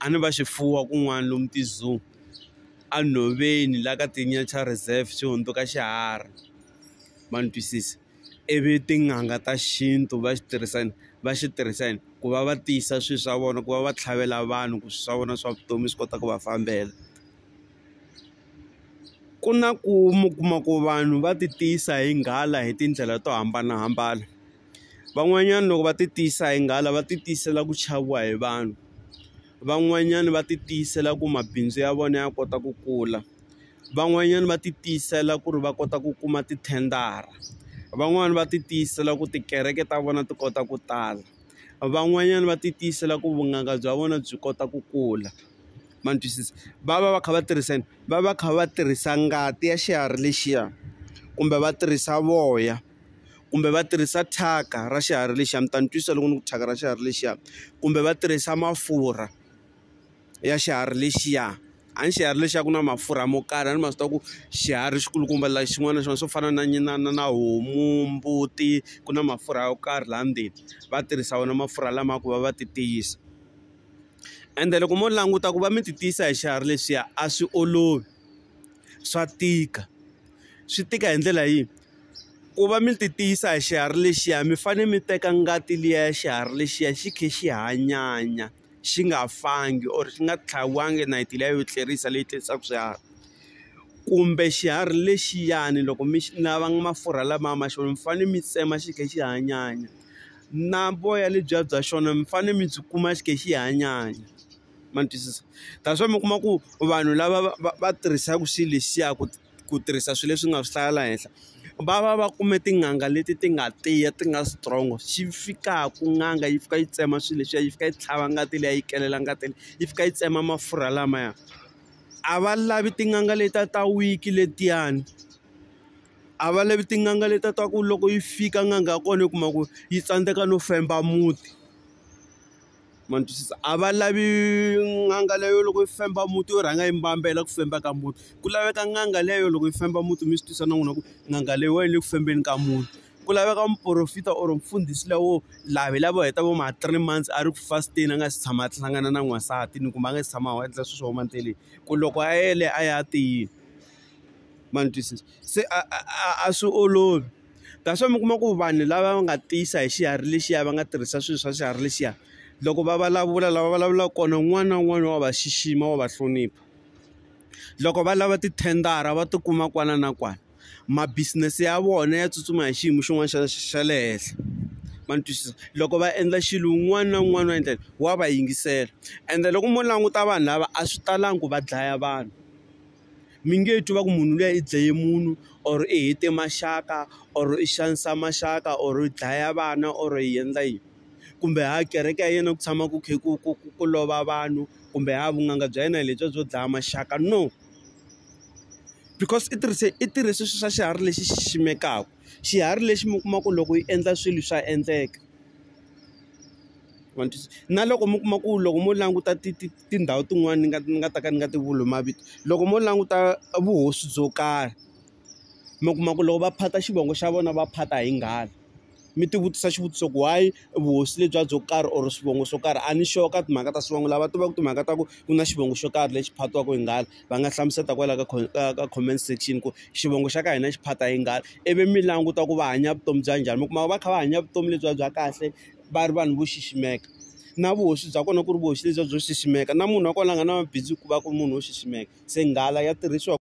a ni va swifuwa kun'wana lomu ti-zoo enhoveni la ka ti-nature reserve xi hundzuka xiharhi ma ni twisisa ivi tin'anga ta xintu va xi tirhisa yini va xi tirhisa yini ku va va tiyisa swilo swa vona ku va va tlhavela vanhu ku swi swa vona swa vutomi swi kota ku va fambela ku na ku mi kuma ku vanhu va ti tiyisa hi nghala hi tindlela to hambanahambana. van'wanyana loko va ti tiyisa hi nghala va ti tiyisela ku chaviwa hi vanhu van'wanyana va ti tiyisela ku mabindzu ya vona ya kota ku kula van'wanyana va ti tiyisela ku ri va kota ku kuma tithendara van'wani va ti tiyisela ku tikereke ta vona ti kota ku tala van'wanyana va ti tiyisela ku vunanga bya vona byi kota ku kula ma ni twisisa va va va kha va tirhisa yini va va kha va tirhisa ngati ya xiharhi lexiya kumbe va tirhisa voya. kumbe va tirhisa thyaka ra xiharhi lexiya mi ta ni twisisa loko ni ku thyaka ra xiharhi lexiya kumbe va tirhisa mafurha ya xiharhi lexiya a ni xiharhi lexiya ku na mafurha mo karhi a ni ma swi tiva ku xiharhi xi kulukumba la xin'wana na xin'wana swo fana na na na na homu mbuti ku na mafurha yo karhi laha ndzeni va tirhisa wona mafurha lama ku va va ti tiyisa ende loko mo languta ku va mi ti tiyisa hi xiharhi lexiya a swi olovi swa tika swi tika hi ndlela yihi ku va mi ti tiyisa hi xiharhi lexiya mi fanele mi teka ngati liya ya xiharhi lexiya xi khe xi hanyanya xi nga fangi or xi nga tlhaviwanga nayiti liya yo tlerisa leyi tlerisaka swiharhi kumbe xiharhi lexiyani loko mi xi lava mafurha lamaya ma xona mi fanele mi tsema xi khe xi hanyanya na voya lebyiya bya xona mi fanele mi byi kuma xi khe xi hanyanya ma ni twisisa that's why mi kuma ku vanhu lava va va va tirhisaka xilo lexiya ku. ku tirhisa swilo leswi nga swi hlaya la henhla va va va kume tin'anga leti ti nga tiya ti nga strong xi fikaku n'anga yi fika yi tsema swilo leswiya yi fika yi tlhava ngati liya yi kelela ngati leyi yi fika yi tsema mafurha lamaya a va lavi tin'anga leti ta ta weak letiyani a va lavi tin'anga leti ta ku loko yi fika n'anga ya kona yi kuma ku yi tsandzeka no femba muti. ma ni twisisa a va lavi n'anga leyo loko yi famba muti yo rhanga yi mbambela ku famba ka muti ku laveka n'anga leyo loko yi famba muti mi swi twisisa na n'wina ku n'anga leyi wa yi le ku fambeni ka muti ku laveka muporofeta or mfundhisi la wo laha hi lava heta vo ma three months a ri ku fasteni a nga si tshama a hlangana na n'wansati ni kumbe a nga si tshama a endla swilo swa huma endleleni ku loko a yele a ya tiyile ma ni twisisa se a a a swi olovi. That's why mi kuma ku vanhu lava va nga tiyisa hi xiharhi lexiya va nga tirhisa swilo swa xiharhi lexiya loko va vulavula lava vulavulaka kona un'wana na un'wana wa va xixima wa va hlonipha loko va lava tithendara va tikuma kwana na kwana mabisinesi ya vona ya tsutsuma hi xiyimo xin'wana xa xa le henhla ma ni twisisa loko va endla xilo un'wana na un'wana wa endlela wa va yingisela ende loko mo languta vanhu lava a swi talangi ku va dlaya vanhu. mi nge twi va ku munhu luya i dlaye munhu or i hete maxaka or i xanisa maxaka or i dlaya vana or i endla yini kumbe ha kereke ya yena ku tshama ku kha ku ku ku ku lova vanhu kumbe ha vunanga bya yena hi lebyiya byo dlaya maxaka no because i tirhise i tirhe sweswo swa xiharhi lexi xi ximekaka xiharhi lexi mi kuma ku loko yi endla swilo swa endleka na loko mi kuma ku loko mo languta ti ti tindhawu tin'wani ni nga ni nga ta ka ni nga ti vuli mavito loko mo languta vuhosi byo karhi mi kuma ku loko va phata xivongo xa vona va phata hi nghala mi ti vutisa xivutiso ku why vuhosi lebyi byo karhi or swivongo swo karhi a ni sure ka timhaka ta swivongo lava tivaka timhaka ta ku ku na xivongo xo karhi lexi phatiwaka hi nghala va nga hlamusela kwala ka ka ka comment section ku xivongo xa ka hina xi phata hi nghala ivi mi languta ku va hanya vutomi bya njhani mi kuma va kha va hanya vutomi lebyiya bya kahle va ri vanhu vo xiximeka na vuhosi bya kona ku ri vuhosi lebyiya byo xiximeka na munhu wa kona a nga na mabindzu ku va ku ri munhu wo xiximeka se nghala ya tirhisiwa.